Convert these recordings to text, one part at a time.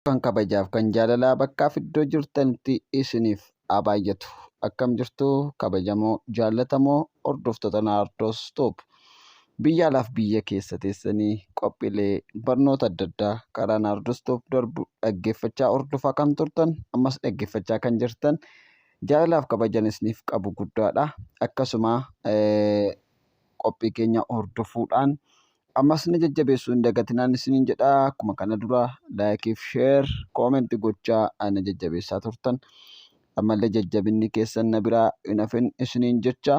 Kan kabajaaf kan jaalalaa bakkaaf iddoo jirtanitti isiniif haa baay'atu. Akkam jirtu kabajamoo jaallatamoo hordoftoota Naardoos Tuub. Biyya alaaf biyya keessa teessanii qophiilee barnoota adda addaa karaa Naardoos Tuub darbu dhaggeeffachaa hordofaa kan turtan ammas dhaggeeffachaa kan jirtan jaalalaaf kabajan isiniif qabu guddaadha. Akkasuma qophii keenya hordofuudhaan ammas na jajjabeessuu hin dagatinaan isiniin jedha. Akkuma kana dura laayikii fi sheer koomenti gochaa na jajjabeessaa turtan. Ammallee jajjabinni keessan na biraa hin hafin isiniin jecha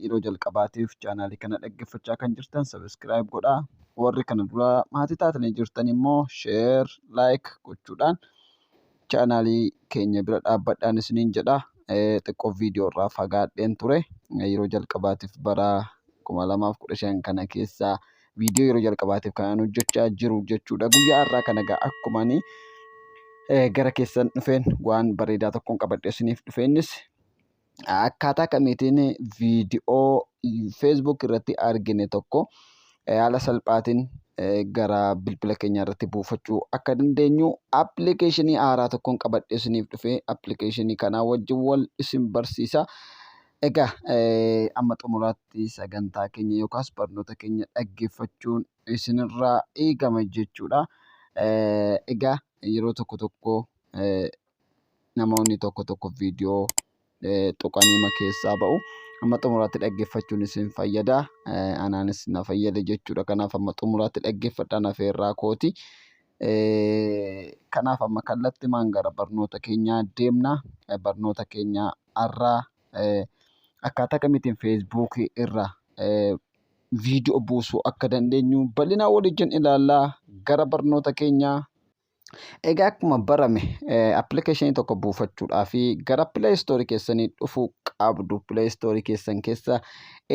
yeroo jalqabaatiif chaanaalii kana dhaggeeffachaa kan jirtan sabiskiraayib godhaa. Warri kana dura maatii taatanii jirtan immoo sheer laayik gochuudhaan chaanaalii keenya bira dhaabbadhaan isiniin jedha. Xiqqoo viidiyoo irraa fagaadheen ture. Yeroo jalqabaatiif bara 2015 kana keessa viidiyoo yeroo jalqabaatiif kanaan hojjechaa jiru jechuudha. Guyyaa har'aa kana egaa akkuma ani gara keessan dhufeen waan bareedaa tokkoon qabadhee isiniif dhufe innis akkaataa kamiitiin viidiyoo Facebook irratti argine tokko haala salphaatiin gara bilbila keenya irratti buufachuu akka dandeenyu appilikeeshinii haaraa tokkoon qabadhee isiniif dhufe appilikeeshinii kanaa wajjin wal isin barsiisa. Egaa amma xumuraatti sagantaa keenya yookaas barnoota keenya dhaggeeffachuun isinirraa eegama jechuudha. Egaa yeroo tokko tokko namoonni tokko tokko viidiyoo tuqaniima keessaa ba'u. Amma xumuraatti dhaggeeffachuun isin fayyada. Anaanis na fayyada jechuudha. Kanaaf amma xumuraatti dhaggeeffadhaa na feerraa kooti. Kanaaf amma kallattimaan gara barnoota keenyaa deemna. Barnoota keenya har'aa akkaataa kamiitiin feesbuukii irra viidiyoo buusuu akka dandeenyu bal'inaa waliin ilaallaa gara barnoota keenyaa Egaa akkuma barame appilikeeshinii tokko buufachuudhaaf gara Play Store keessanii dhufuu qabdu. Play Store keessan keessa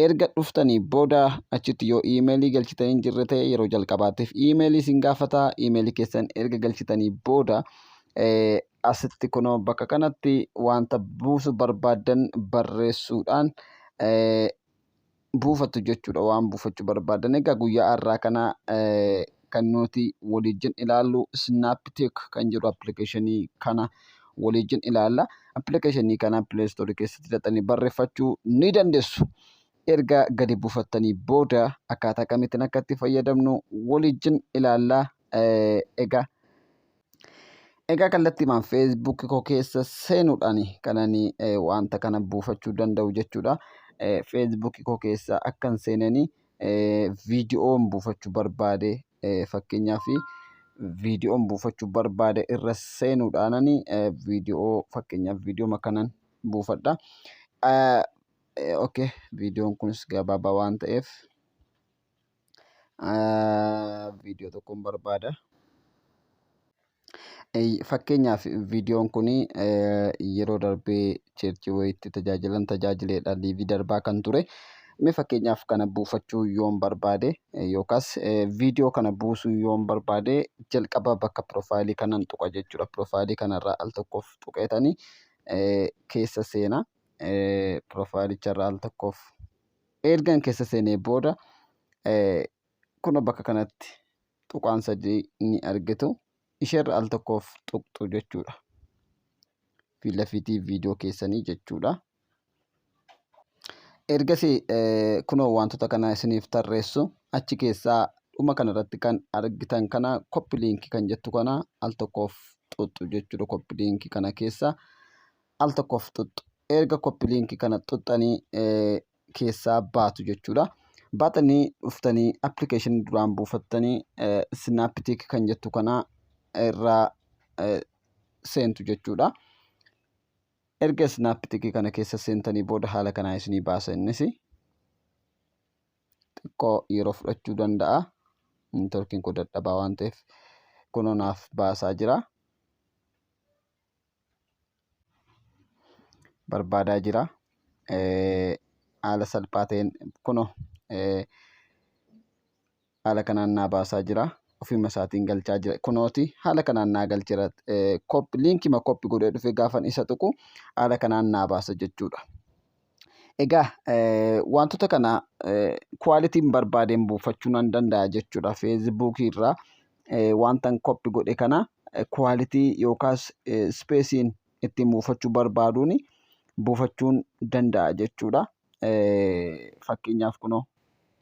erga dhuftanii booda achitti yoo iimeelii galchitan hin jirre ta'e yeroo jalqabaatiif iimeelii isin gaafata. Iimeelii keessan erga galchitanii booda asitti kunoo bakka kanatti wanta buusu barbaaddan barreessuudhaan buufatu jechuudha waan buufachuu barbaadan egaa guyyaa har'aa kana kan nuti waliijin ilaallu snaptik kan jedhu appilikeeshinii kana waliijin ilaalla appilikeeshinii kana pileestoorii keessatti hidhatanii barreeffachuu ni dandeessu erga gadi buufattanii booda akkaataa kamittiin akka itti fayyadamnu waliijin ilaalla egaa Egaa kallattiimaan Facebook koo keessa seenuudhaan kanan wanta kana buufachuu danda'u jechuudha. Facebook koo keessa akkan seeneen viidiyoon buufachuu barbaade fakkeenyaaf viidiyoon buufachuu barbaade irra seenuudhaan viidiyoo fakkeenyaaf viidiyoo kanan buufadha. Okay viidiyoon kunis gabaabaa waan ta'eef. viidiyoo tokkoon barbaada. Fakkeenyaaf viidiyoon kun yeroo darbee cheerchii wayiitti tajaajilan tajaajileedha liivii darbaa kan ture. Mee fakkeenyaaf kana buufachuu yoon barbaade yookaas viidiyoo kana buusuu yoon barbaade jalqaba bakka piroofaayilii kanan tuqa jechuudha. Piroofaayilii kanarraa al tokkoof tuqeetanii keessa seena. Piroofaayilicharraa al tokkoof Ergan keessa seenee booda kunoo bakka kanatti tuqaan sadii ni argitu. Isheerra al tokkoof tuqxu jechuudha. Fiilafiitii viidiyoo keessanii jechuudha. Ergasii kunoo wantoota kana isiniif tarreessu achi keessaa dhuma kanarratti kan argitan kana koppi liinkii kan jettu kana al tokkoof xuxxu jechuudha koppi liinkii kana keessa. al tokkoof xuxxu. Erga copy link kana xuxxanii keessaa baatu jechuudha. Baatanii dhuftanii application duraan buufattanii snaptik kan jettu kana irraa seentu jechuudha. Erga snaptik kana keessa seentanii booda haala kanaa isinii baasa innis xiqqoo yeroo fudhachuu danda'a. Neetworkiin koo dadhabaa waan ta'eef kunoo naaf baasaa jira. barbaadaa jira. Haala salphaa ta'een kunoo haala kanaan naa baasaa jira. Ofuma isaatiin galchaa jira. Kunooti haala kanaan naa galcheera. Liinkima koppi godhee dhufee gaafan isa tuqu haala kanaan naa baasa jechuudha. Egaa wantoota kana kwaalitiin barbaadeen buufachuu nan danda'a jechuudha. Feesbuukii irraa wantan koppi godhe kana kwaalitii yookaas ispeesiin ittiin buufachuu barbaaduun buufachuun danda'a jechuudha. Fakkeenyaaf kunoo.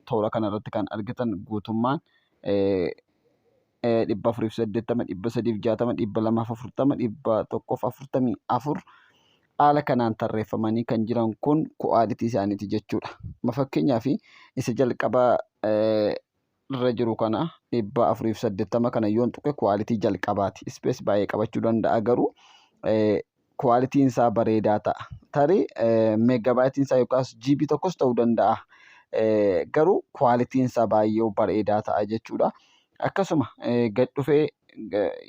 toora kana irratti kan argitan guutummaan 480, 360, 240, 144 haala kanaan tarreeffamanii kan jiran kun ku'aalitii isaaniiti jechuudha. Ma fakkeenyaaf isa jalqaba irra jiru kana 480 kana yoon tuqe ku'aalitii jalqabaati. Ispees baay'ee qabachuu danda'a garuu kwaalitiin isaa bareedaa ta'a. Tarii meeggabaayitiin isaa yookaas jiibii tokkos ta'uu danda'a. Garuu kwaalitiin isaa baay'ee bareedaa ta'a jechuudha. Akkasuma gad dhufee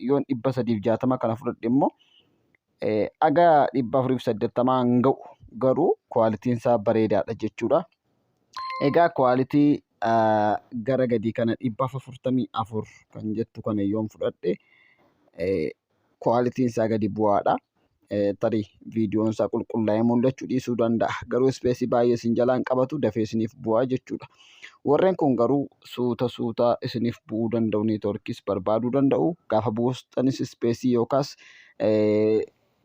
yoon dhibba sadiif jaatama kana fudhadhe immoo haga dhibba afuriif saddeettamaa hin ga'u. Garuu kwaalitiin isaa bareedaadha jechuudha. Egaa kwaalitii gara gadii kana dhibba afurtamii afur kan jettu kana yoon fudhadhe Kwaalitiin isaa gadi bu'aadha. Tarii viidiyoon isaa qulqullaa'ee mul'achuu dhiisuu danda'a. Garuu ispeesii baay'ee isin jalaan qabatu dafee isiniif bu'aa jechuudha. Warreen kun garuu suuta suuta isiniif bu'uu danda'u neetworkiis barbaaduu danda'u. Gaafa buustanis ispeesii yookaas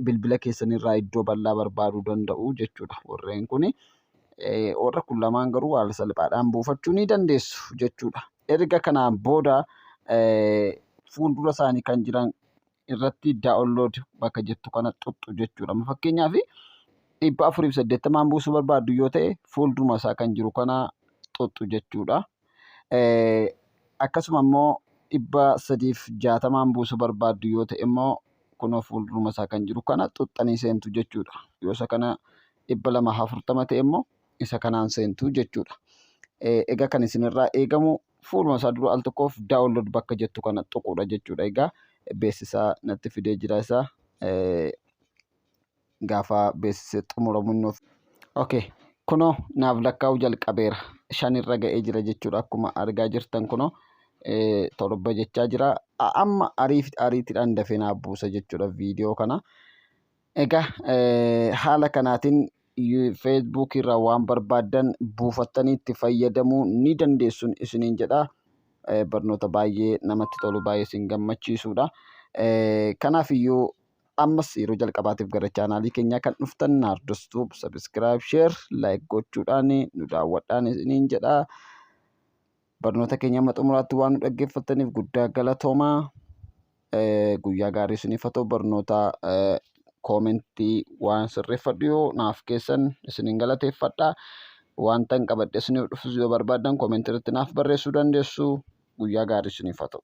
bilbila keessanirraa iddoo bal'aa barbaaduu danda'u jechuudha. Warreen kun warra kun lamaan garuu haala salphaadhaan buufachuu ni dandeessu jechuudha. erga kanaan booda fuuldura isaanii kan jiran irratti download bakka jettu kana xuxxu jechuudha. Amma fakkeenyaaf dhibba afuriif saddeettamaan buusuu barbaaddu yoo ta'e fuulduruma isaa kan jiru kana xuxxu jechuudha. Akkasuma immoo dhibba sadiif jaatamaan buusuu barbaaddu yoo ta'e immoo kunoo fuulduruma isaa kan jiru kana xuxxanii seentu jechuudha. Yoo isa kana dhibba lama afurtama ta'e immoo isa kanaan seentu jechuudha. Egaa kan isinirraa eegamu fuuluma isaa dura al tokkoof daawunlood bakka jettu kana tuquudha jechuudha. Egaa beeksisaa natti fidee jira isaa gaafa beeksisee xumuramu inni of. Okay. Kunoo naaf lakkaa'uu jalqabeera. Shanirra ga'ee jira jechuudha akkuma argaa jirtan kunoo torba jechaa jira. Amma ariitiidhaan dafee naaf buusa jechuudha viidiyoo kana. Egaa haala kanaatiin Facebook irraa waan barbaaddan buufattanii itti fayyadamuu ni dandeessu isiniin jedha. Barnoota baay'ee namatti tolu baay'ee isin gammachiisudha. Kanaaf iyyuu ammas yeroo jalqabaatiif gara chaanaalii keenyaa kan dhuftan Naardos Tuub sabiskiraayib sheer laayik gochuudhaan nu daawwadhaan isiniin jedha. Barnoota keenya amma xumuraatti waan nu dhaggeeffattaniif guddaa galatoomaa. Eh, Guyyaa gaarii isiniif haa ta'u barnoota eh, koomentii waan sirreeffadhu yoo naaf keessan isinin galateeffadha. Wanta hin qabadhe isiniif dhufus yoo barbaadan koomentii irratti naaf barreessuu dandeessu. Guyyaa gaarii isiniif haa ta'u.